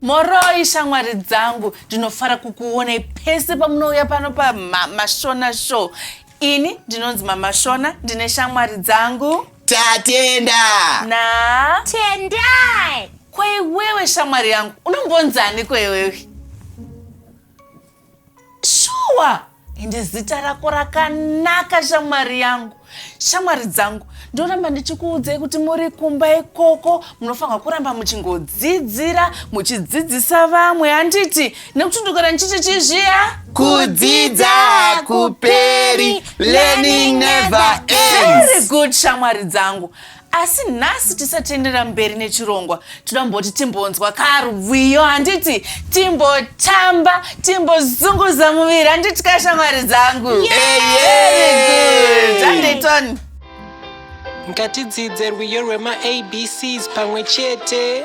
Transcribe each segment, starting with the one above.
moroi shamwari dzangu ndinofara kukuonai pese pamunouya pano pamashona show ini ndinonzi mamashona ndine shamwari dzangu tatenda na tendai kweiwewe shamwari yangu unombonzani kweiwewe shuwa ende zita rako rakanaka shamwari yangu shamwari dzangu ndoramba ndichikuudzai kuti muri kumba ikoko munofanirwa kuramba muchingodzidzira muchidzidzisa vamwe handiti nekuti ndogara ndichiti chizviya kudzidza hakuperi learning never very ends good shamwari dzangu asi nhasi tisati taenderera mberi nechirongwa toda kumboti timbonzwa karwiyo handiti timbotamba timbozunguza muviri handiti kashamwari dzangu andeyton ngatidzidze rwiyo rwemaabcs pamwe chete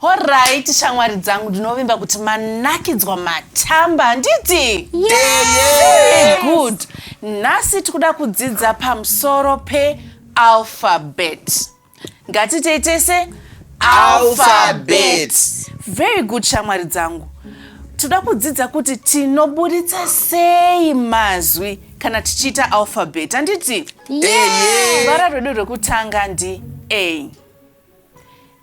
Horaiti shamwari dzangu ndinovimba kuti manakidzwa matamba handiti? Very good. Nhasi tikuda kudzidza pamusoro pealphabet. Ngatitei tese alphabet. Very good shamwari dzangu. Tinoda kudzidza kuti tinoburitsa sei mazwi kana tichiita alphabet handiti? Ruvara rwedu rwekutanga ndi A.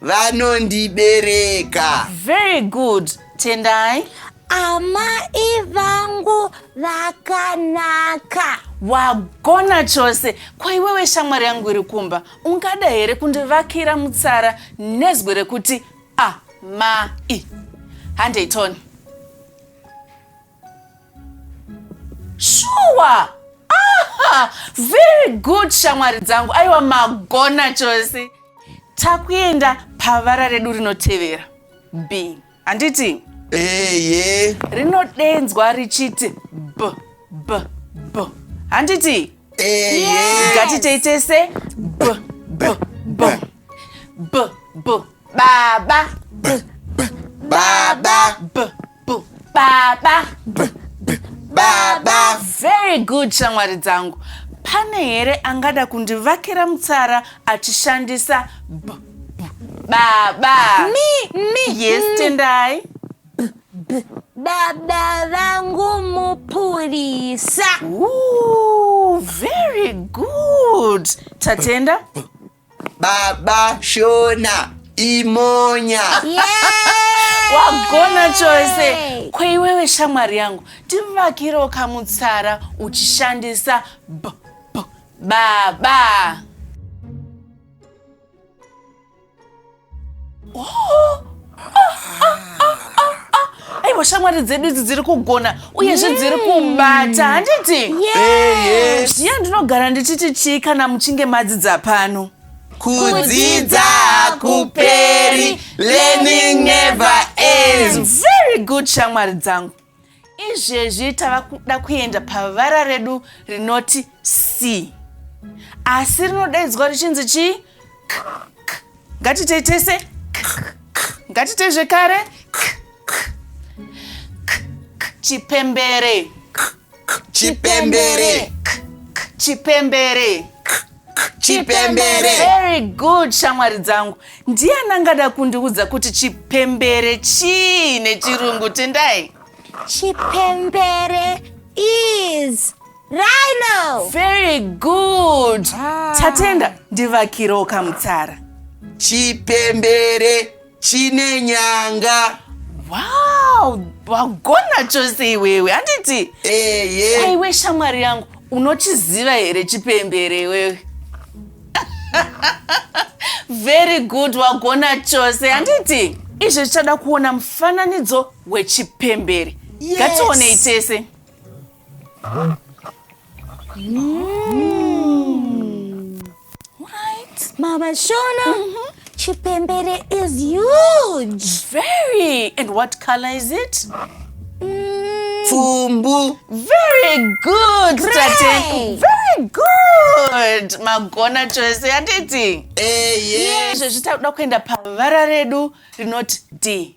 vanondibereka very good tendai amai vangu vakanaka wagona chose kwaiwewe shamwari yangu iri kumba ungada here kundivakira mutsara nezwi rekuti amai handei tony shuwa aha very good shamwari dzangu aiwa magona chose takuenda pavara redu rinotevera b handiti eye rinodenzwa richiti b b b handiti eye ngatitei tese b b b b b baba baba b bu baba bu baba very good shamwari dzangu pane here angada kundivakira mutsara achishandisa bu baba mi mi yes tendai baba vangu mupurisa Ooh, very good tatenda baba shona imonya wagona chose kweiwewe shamwari yangu tivakirewo kamutsara uchishandisa b b baba oh! aiwa shamwari dzedu idzi dziri kugona uyezve dziri kubata handiti zviya ndinogara ndichiti chii kana muchinge madzidza pano kudzidza hakuperi learning never ends very good shamwari dzangu izvezvi tava kuda kuenda pavara redu rinoti c asi rinodaidzwa richinzi chii ngatitei tese ngatitei zvekare chipembere chipembere chipembere chipembere very good shamwari dzangu ndiani angada kundiudza kuti chipembere chii nechirungu tendai chipembere is rhino very good tatenda ndivakirewo kamutsara chipembere chine nyanga wow wagona chose iwewe handiti eye aiwe shamwari yangu unochiziva here chipembere iwewe very good wagona chose handiti izvo zvichada kuona mufananidzo wechipembere Yes. ngatiwonei tese Mama Shona, mm -hmm. Chipembere is huge. Very. And what color is it? Mm. Fumbu. Very good. Gray. Very good. Magona chose yanditi. Eh, yes. Zvezvitakuda kuenda pavara redu rinoti D.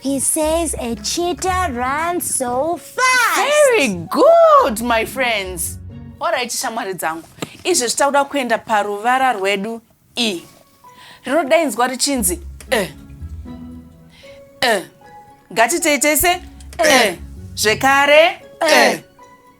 He says a cheetah runs so fast. Very good, my friends. All right, shamwari dzangu. Izvi zvitakuda kuenda paruvara rwedu E. Rinodainzwa richinzi e. E. Ngatitei tese e. Zvekare e.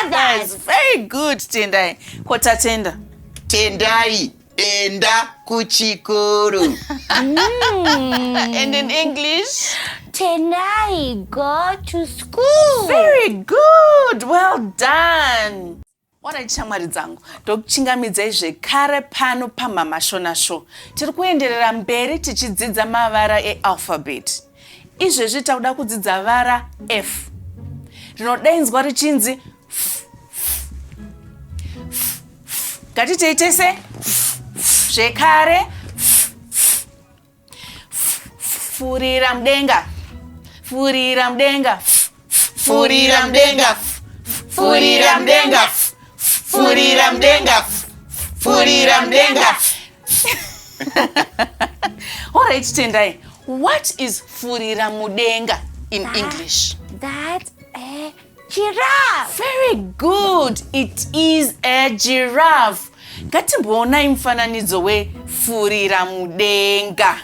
others very good tendai ko tatenda tendai enda kuchikoro mm. and in english tendai go to school very good well done onai shamwari dzangu ndokuchingamidzai zvekare pano pamamashona show tiri kuenderera mberi tichidzidza mavara ealphabet Izvezvi takuda kudzidza vara F rinodainzwa richinzi f, f, f, f. Ngatitei tese f, f, zvekare f, f, f, f, furira mudenga furira mudenga f, furira mdenga furira mdenga furira mdenga furira mdenga alright tendai what is furira mudenga in that, english that uh, giraffe very good it is a giraffe ngatimboonai mufananidzo wefurira mudenga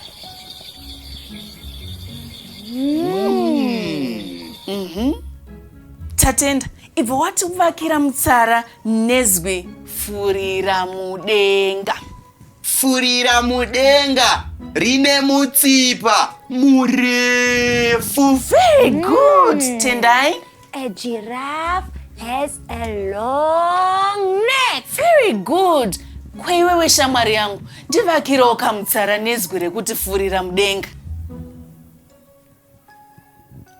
Mhm. tatenda ibva wativakira mutsara nezwi furira mudenga furira mudenga rine mutsipa murefu very good tendai A giraffe has a long neck. Very good. Kweiwewe shamwari yangu, ndivakirawo kamutsara nezwi rekuti furira mudenga.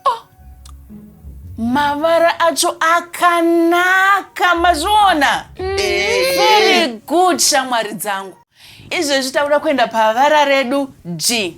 Oh, mavara acho akanaka mazviona. Mm. Very good shamwari dzangu. Izvezvi takuda kuenda pavara redu G.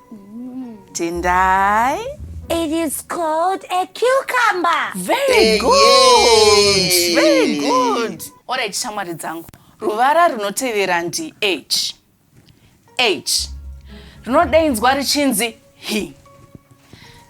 Tendai. It is called a cucumber. Very good. Very good. All right, shamwari dzangu. Ruvara runotevera ndi H. H. Rinodeinzwa richinzi hi.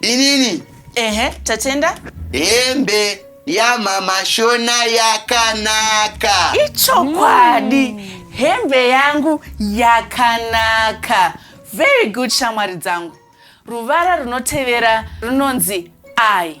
inini ehe tatenda hembe yamama shona yakanaka ichokwadi mm. hembe yangu yakanaka very good shamwari dzangu ruvara runotevera runonzi i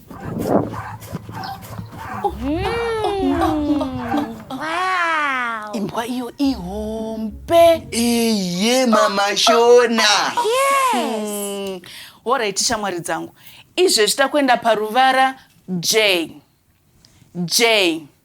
imbwa iyo ihombe iye mama shona yes. horaiti shamwari dzangu izvezvi takuenda paruvara j j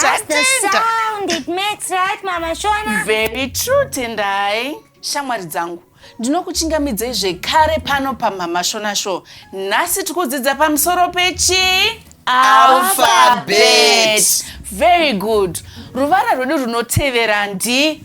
That's the sound it makes, right, Mama Shona? Very true, Tendai. Shamwari dzangu, ndinokuchingamidzei zvekare pano paMama Shona Show. Nhasi tikudzidza pamusoro pechi alphabet. Very good. Ruvara rwedu runotevera ndi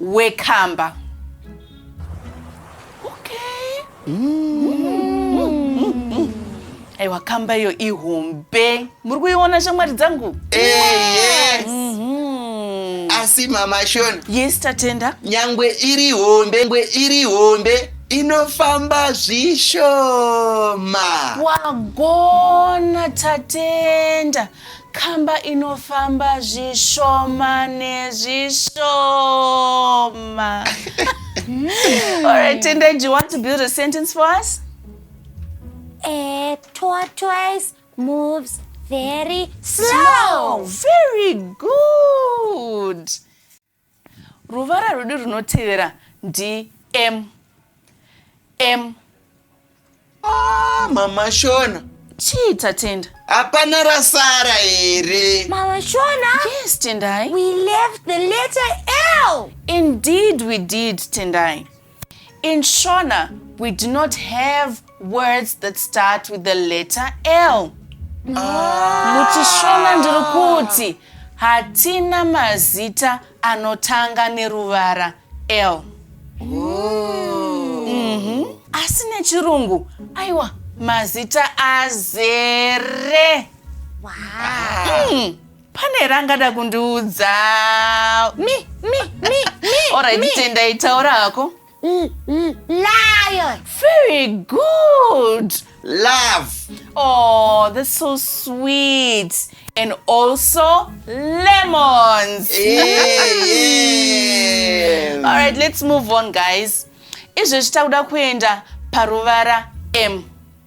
wekamba okay. mm. aiwa kamba iyo ihombe muri kuiona shamwari dzangu hey, eh, yes. mm -hmm asi mama shon yes tatenda nyangwe iri hombe nyangwe iri hombe inofamba zvishoma wagona tatenda Kamba inofamba zvishoma nezvishoma. All right, Tendai, do you want to build a sentence for us? A tortoise moves very slow. Very good. Ruvara rwedu runotevera ndi M. M. Ah, mama Shona. Chii tatenda? Hapana rasara here? Mama Shona? Yes, Tendai. We left the letter L. Indeed we did, Tendai. In Shona, we do not have words that start with the letter L. Ah. MuchiShona ndiri kuti hatina mazita anotanga neruvara L. Mhm. Asi nechirungu, aiwa, mazita azere. Wow. Mm. pane rangada kundiudza mi mi mi mi Alright, mi. tendai taura hako L- l- lion very good love oh that's so sweet and also lemons Yes. all right let's move on guys izvezvi takuda kuenda paruvara m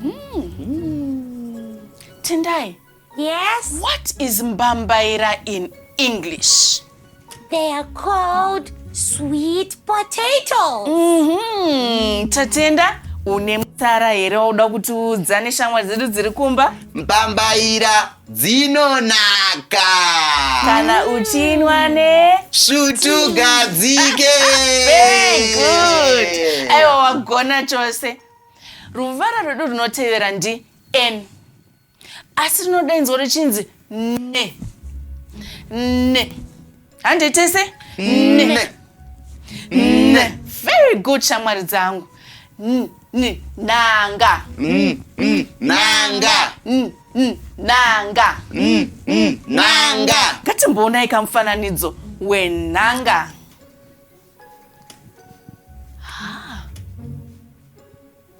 Mm. Tendai. Yes? What is mbambaira in English? They are called sweet potatoes. Mm -hmm. Tatenda, une mutara here wauda kutiudza neshamwari dzedu dziri kumba? Mbambaira dzinonaka. Kana uchinwa ne svutu gadzike. Very good. Aiwa wagona chose. Ruvara rwedu runotevera ndi N asi rinodainzwa richinzi ne ne handei tese ne ne very good shamwari dzangu N- n- nanga Mm, mm, nanga. N- n- nanga Mm, mm, nanga. ngatimboonai kamufananidzo wenhanga Ah.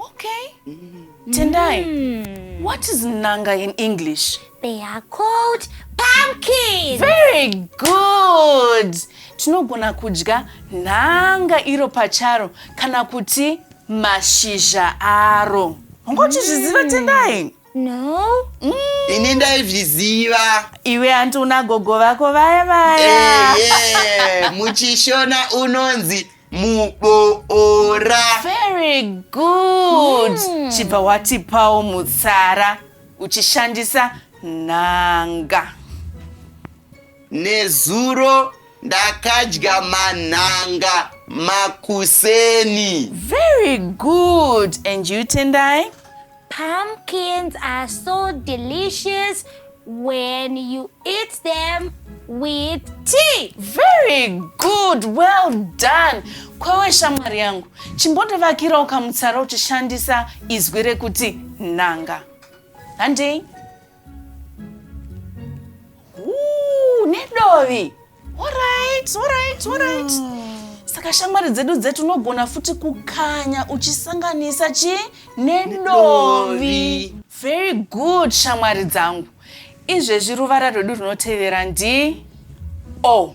Okay. Mm. Tendai, mm. what is nanga in English? They are called pumpkins. Very good. Tinogona kudya nanga iro pacharo kana kuti mashizha aro. Ungoti zviziva Tendai? No. Mm. Ini ndaizviziva. Iwe hanti una gogo vako vaya vaya. Eh, yeah. Muchishona unonzi muboora. Very good. Mm. Chibva watipawo mutsara uchishandisa nhanga. Nezuro ndakadya manhanga makuseni. Very good. And you Tendai? Pumpkins are so delicious when you eat them with tea. Very good, well done. Kwewe shamwari yangu, chimbondovakirawo kamutsara uchishandisa izwi rekuti nanga. Handei. Ooh, nedovi alright alright alright saka shamwari dzedu dzedu unogona futi kukanya uchisanganisa chi nedovi very good shamwari dzangu izvezvi ruvara rwedu runotevera ndi o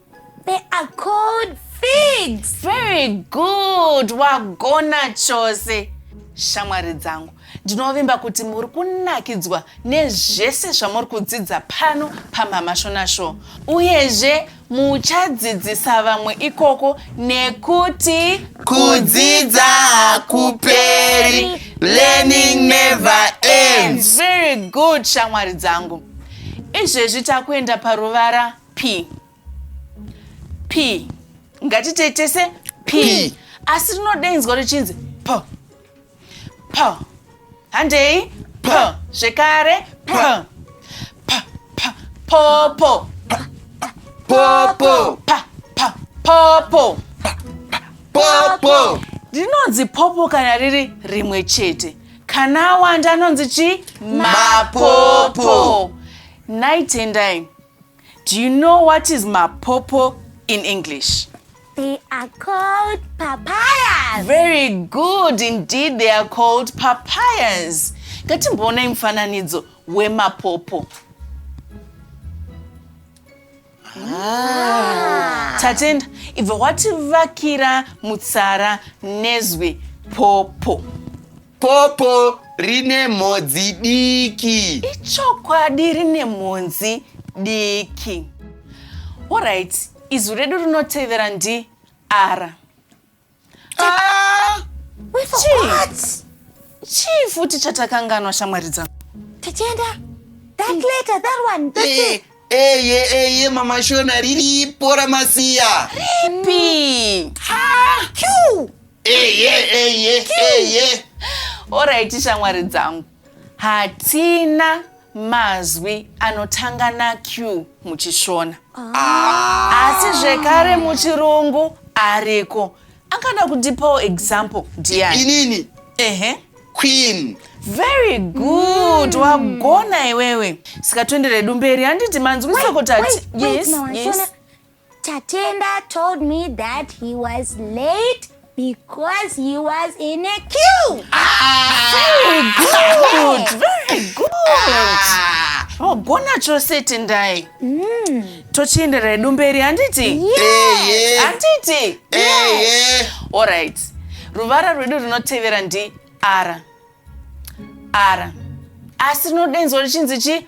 They are called figs. Very good. Wagona chose. Shamwari dzangu, ndinovimba kuti muri kunakidzwa nezvese zvamuri kudzidza pano paMama Shona Show. Uyezve muchadzidzisa vamwe ikoko nekuti kudzidza hakuperi. Learning never ends. Very good shamwari dzangu. Izvezvi takuenda paruvara p p ngatitei tese p asi rinodainzwa richinzi p p handei p zvekare p p p popo popo p p popo popo rinonzi popo kana riri rimwe chete kana awanda anonzi chi mapopo nhai tendai Do you know what is mapopo in English? They are called papayas. Very good indeed, they are called papayas. Ngatimboonai mufananidzo wemapopo. Ah. Tatenda, ibva wativakira mutsara nezwi popo. Popo rine mhodzi diki. Ichokwadi rine mhodzi diki. Alright, izwi redu rinotevera ndi ara. Ah! Chii futi chatakanganwa shamwari dzangu? Tichenda. That letter, that one. That's eh, it. Eye eh, eye eh, mama Shona riripo ramasiya. Ripi? Ha! Q. eye eye eye oraiti shamwari dzangu hatina mazwi anotanga naq muchishona asi zvekare muchirungu ariko angada kundipawo example ndiani inini ehe queen very good wagona iwewe sika toenderedu mberi handiti manzwisoko tati yes yes Tatenda told me that he was late because he was in a queue. Ah! Very good. Very good. Ah! Oh, gona chose Tendai. Mm. Tochienderera hedu mberi handiti? Yeah. Handiti? Yeah. All right. Ruvara rwedu rinotevera ndi ara. Ara. Asi rinodenzwa richinzi chi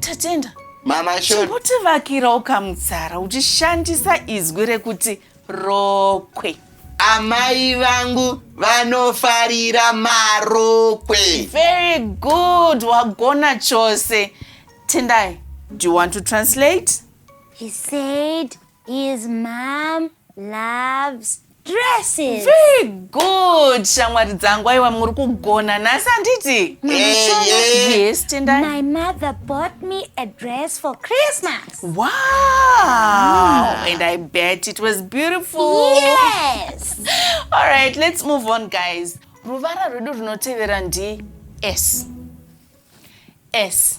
Tatenda. Mama Shona. Chimbotivakira ukamutsara uchishandisa izwi rekuti rokwe. Amai vangu vanofarira marokwe. Very good. Wagona chose. Tendai, do you want to translate? He said His mom loves dresses. Very good, shamwari dzangu. Aiwa muri kugona nhasi handiti? Yes, tendai. My mother bought me a dress for Christmas. Wow! And I bet it was beautiful. Yes. All right, let's move on, guys. Ruvara rwedu runotevera ndi S. S.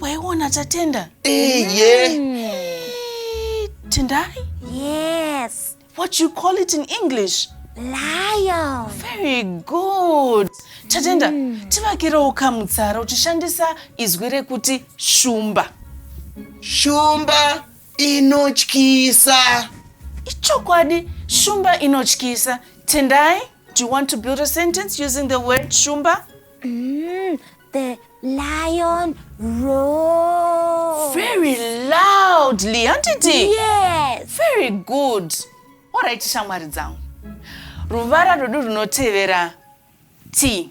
waiona tatenda tendai yes what you call it in english lion very good tatenda mm. tivakirewo kamutsara uchishandisa izwi rekuti shumba shumba inotyisa ichokwadi shumba inotyisa tendai Do you want to build a sentence using the word shumba? Mm, the lion roared. Very loudly, handiti? Yes. Very good. All right, shamwari dzangu. Ruvara rwedu runotevera T.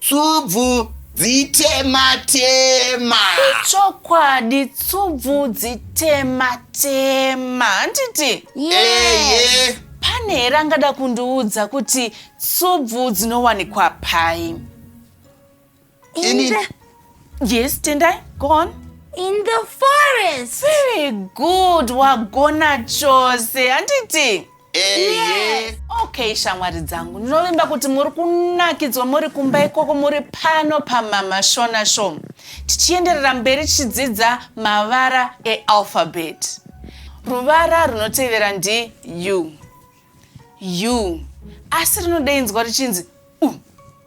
Tsubvu dzitema tema. Ichokwadi tsubvu dzitema tema. Handiti? Eye. Pane here angada kundiudza kuti tsubvu dzinowanikwa pai? Ini. Yes, Tendai, go on. In the forest. Very good, wagona chose. Handiti? Ehe. Okay shamwari dzangu ndinovimba kuti muri kunakidzwa muri kumba ikoko muri pano pamama shona show tichienderera mberi tichidzidza mavara ealphabet ruvara runotevera ndi u u asi rinodeinzwa richinzi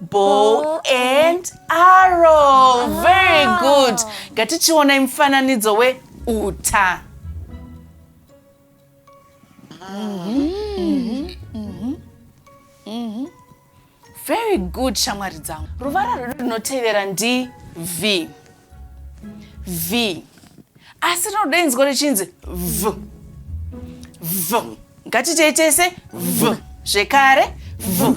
bow and arrow very good ngatichionai mufananidzo weuta very good shamwari dzangu ruvara rwedu runotevera ndi v v asi rinoda inzwa richinzi v v ngatiitei tese v zvekare v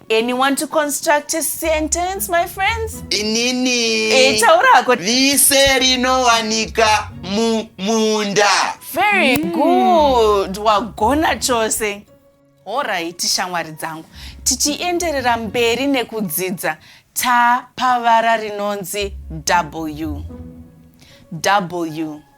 Anyone to construct a sentence, my friends? Inini. Eh, taura hako. Vise rinowanika mumunda. Very mm. good. Wagona chose. Alright, shamwari dzangu. Tichienderera mberi nekudzidza ta pavara rinonzi W. W.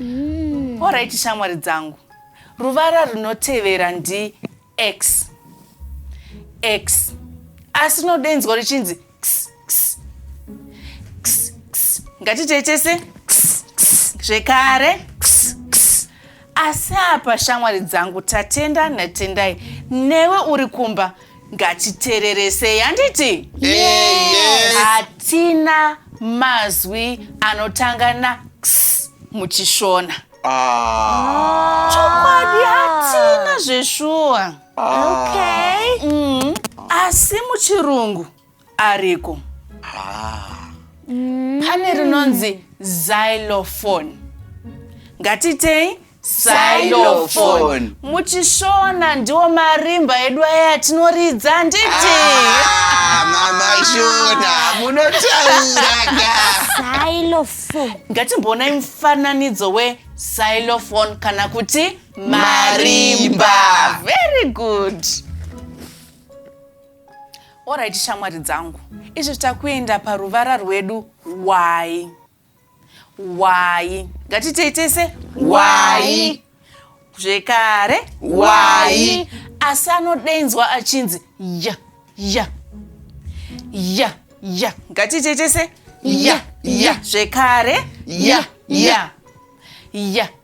mm. orit shamwari dzangu ruvara runotevera ndi x x asi rinodeinzwa richinzi ngatitei tese zvekare asi apa shamwari dzangu tatenda natendai newe uri kumba ngatitereresei handiti hatina mazwi anotanga na x muchishona ah. chokwadi hatina zveshuwa ah. okay. mm. asi muchirungu ariko ah. mm. pane rinonzi xylophone ngatitei xylophone muchishona ndiwo marimba edu aya atinoridza nditi ah, mama shona munotauraka xylophone ngatimboonai mufananidzo we xylophone kana kuti marimba very good Alright shamwari dzangu, izvi takuenda paruvara rwedu y y ngatitei tese y zvekare y asi anodeinzwa achinzi ya ya ya ya ngatitei tese ya ya zvekare ya ya ya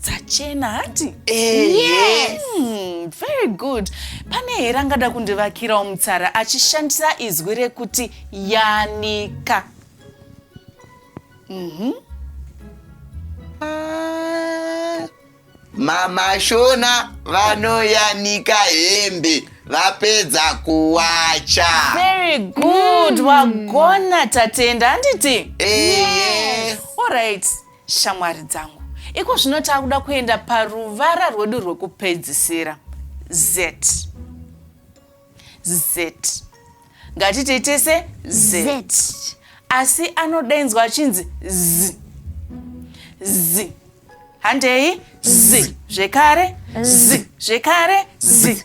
dzachena hati eh, yes. mm, very good pane here angada kundivakirawo mutsara achishandisa izwi rekuti yanika mm -hmm. ah, mamashona vanoyanika hembe vapedza kuwacha very good mm. wagona tatenda handiti eh, yes. yes. all right Shamwari dzangu, iko zvino taakuda kuenda paruvara rwedu rwekupedzisira. Zet. Zet. Ngatitei tese zet. Zet. Asi anodainzwa achinzi z. Z. Handei z. Zvekare z. Zvekare z.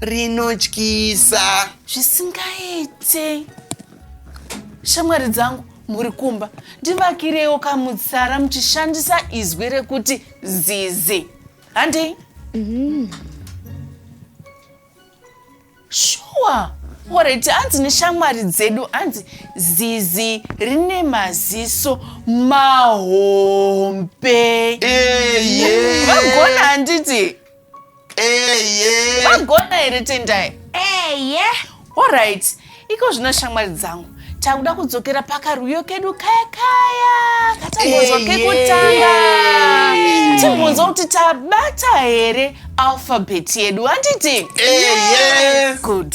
rinotyisa zvisingaite shamwari dzangu muri kumba ndivakirewo kamutsara muchishandisa izwi rekuti zizi handei mm. shuwa oreti hanzi neshamwari dzedu hanzi zizi rine maziso mahombe vagona handiti eye Magona here Tendai? eye Alright, iko zvino shamwari dzangu takuda kudzokera pakarwiyo kedu kaya kaya katambozwa Eye. kekutanga timbunzwa kuti tabata here alphabet yedu handiti eye good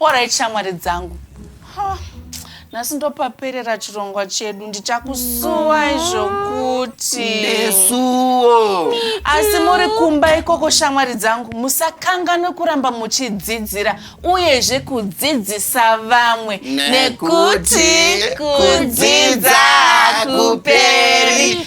Alright shamwari dzangu. Ha, nhasi ndopaperera chirongwa chedu ndichakusuwai zvokuti. Nesuwo. Asi muri kumba ikoko shamwari dzangu musakanganwe kuramba muchidzidzira uyezve kudzidzisa vamwe nekuti kudzidza hakuperi.